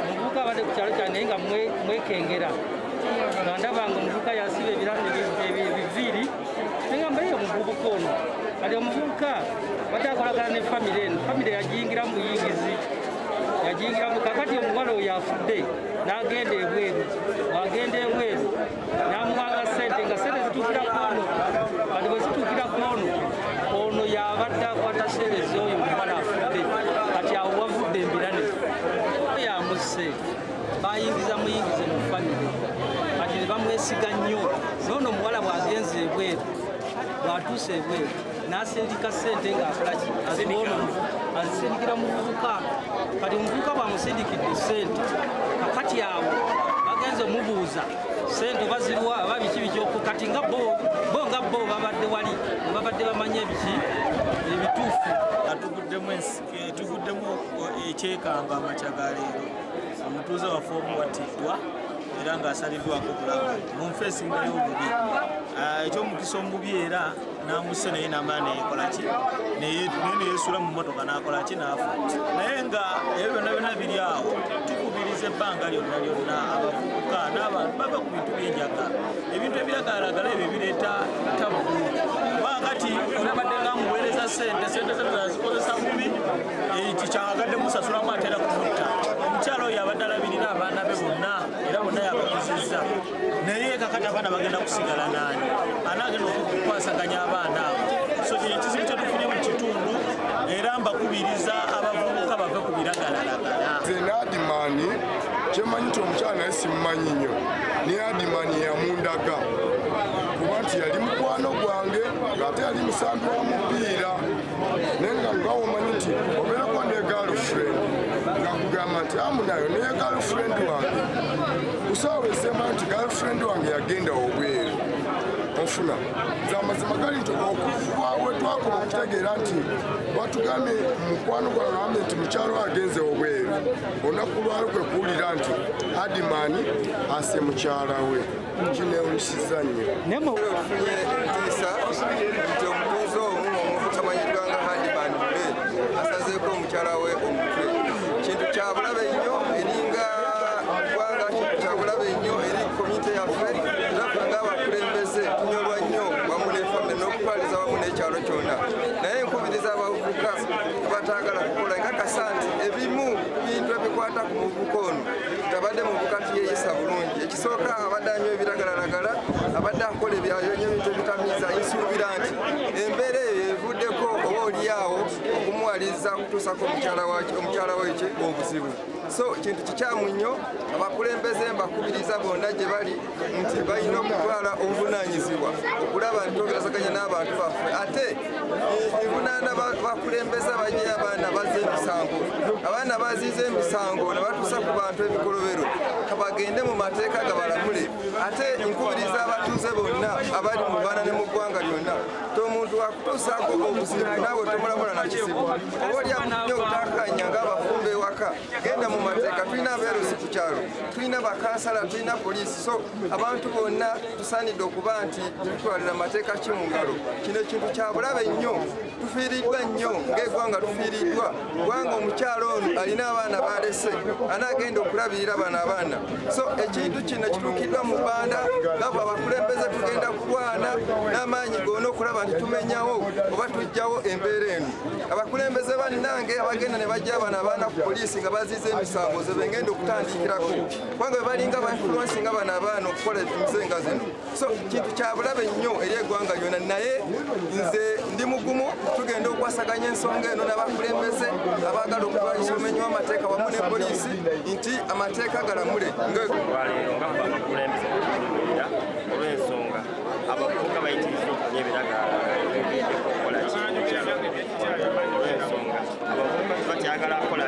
omuvubuka abadde ku kyalo kyange naye nga mwekengera nga ndaba nga omuvubuka yasiba ebiviiri naye nga mbaye omuvubuka ono kati omuvubuka badde akolagana ne famire eno famire yagiyingira mu buyingizi yagiyingiramu kakati omuwala oyo afudde n'agenda ebweru agenda ebweru namuwanga sente nga sente zituukira kwono kati bwe zituukira kwono ono yabadde akwata sente zoyo omubala afudde kati awo wavudde embirane yamusse bayingiza muyingize mu famire kati ne bamwesiga nnyo noono omuwala bwagenze ebweru bwatuuse ebweru n'asindika ssente ng'akolaki azibono azisindikira muvubuka kati omuvubuka bwamusindikidde ssente kakati awo bagenze omubuuza ssente oba ziriwa aba biki biki kati nga bo nga bo babadde wali babadde bamanya ebiki ebituufu atuguddemu etuguddemu eh, ekyekamba amakya ga leero omutuuze waffe omu wattiddwa era ng'asaliddwako obulamu mu nfa esingayo obubi ah, ekyomukisa omubi era namusse naye namala neyekolaki naye neyesuula mu motoka nakolaki naafa naye nga ebyo byonna byonna biri awo tukubiriza ebbanga lyonna lyonna abavubuka n'abantu bava ku bintu byenjaga ebintu ebiragalagala ebyo bireeta tabu kuba kati olabadde nga muweereza sente sente zete zazikozesa bubi eki kyagadde musasulamu atera kumutta omukyalo oyo abadde alabirira abaana be bonna era bonna yabakuzizza naye kakati abaana bagenda kusigala naani anaagenda okukwasaganya abaana abo so kino ekizibu kyetufunye mu kitundu era mbakubiriza abavubuka bave ku biragalalagala nze naadimaani kyemanyi nti omukyala naye simumanyi nnyo naye adimaani yamundaga kuba nti yali mukwano gwange ngaate yali musambi wa mupiira naye nga ngawo omanyi nti obeerako ne galfriend nga kugamba nti amunayo naye galfriend wange kusaawa esema nti girlfriend wange yagenda obweru ofuna zamazima gali nti okuva wetwakola okutegeera nti batugambye mukwano gwagambe nti mukyalo agenze obweru olunaku lwalo kwe kuwulira nti adimani ase mukyala we kinewunyisiza nnyo nayefunye entiisa nti omutuuze omu omutamanyiddwa nga hadimani mube asazeeko omukyala we omutwe kintu kyabulabe nnyo Kubanga kino kya bulabe nnyo eri komite yaffe era ffe ng'abakulembeze tunyolwa nnyo wamu ne famire n'okutwaliza wamu n'ekyalo kyonna naye nkubiriza abavubuka abataagala kukola nkakasa nti ebimu bintu ebikwata ku muvubuka ono tabadde muvubuka tuyeeyisa bulungi ekisooka abadde anywa ebiragalalagala abadde akola ebyayo nyo ebintu ebitamiiza nsuubira nti embeera eyo evuddeko oba olyawo okumuwaliriza kutuusako omukyala wekye obuzibu so kintu kikyamu nnyo abakulembeze mbakubiriza bonna gye bali nti balina okutwala obuvunanyizibwa okulaba nti togerasaganya n'abantu baffe ate ebunaana bakulembeza baje abaana baze emisango abaana baziiza emisango ne batuusa ku bantu ebikolobero kabagende mu mateeka gabalamule ate nkubiriza abatuuze bonna abali mu baana ne mu ggwanga lyonna tomuntu wakutuusaako obuzibu naawe tomulabula na kizibu oba olyamunyo otakanya ng'abafumba ewaka genda mu mateeka tulina abeerusi ku kyalo tulina bakansala tulina poliisi so abantu bonna tusaanidde okuba nti tutwalira amateeka ki mu ngalo kino ekintu kyabulabe nnyo tufiiriddwa nnyo ng'egwanga tufiiriddwa kubanga omukyala ono alina abaana balese anagenda okulabirira bano abaana so ekintu kino kituukiddwa mu banda ngabo abakulembeze tugenda kulwana n'amaanyi gona okulaba nti tumenyawo oba tujjawo embeera eno abakulembeze bannange abagenda ne bajja abana abaana ku poliisi nga baziiza emisango ze bengenda okutandikirako kubanga bebalinga bainfuluensi nga bano abaana okukola emize nga zino so kintu kyabulabe nnyo eri egwanga lyona naye nze ndi mugumu tugenda okwasaganya ensonga eno nabakulembeze abagala okulwanyisa omenyi wamateeka wamu ne poliisi nti amateeka galamule olwensonga abavubuka bayitiriza okunya ebiragaala abavubuka tebakyagala akola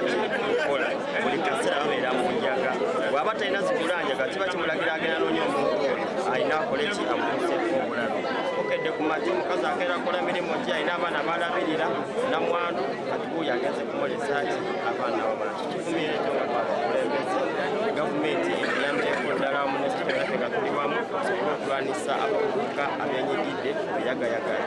kola buli kaseera babeera mu njaga bwaba talina zigula njaga kiba kimulagira agenda nonya omuntu alina akola eki amuuseeko obulabe okedde ku magi omukazi agenda kola mirimu ki alina abaana balabirira namwandu kati buuyo agenze kumulesaki abaana wabana kikivumireto nga twabakulembeze gavumenti eyambireko ddala wamu nekitera tegatuli wamu okulwanisa abavubuka abenyigidde eyagayagala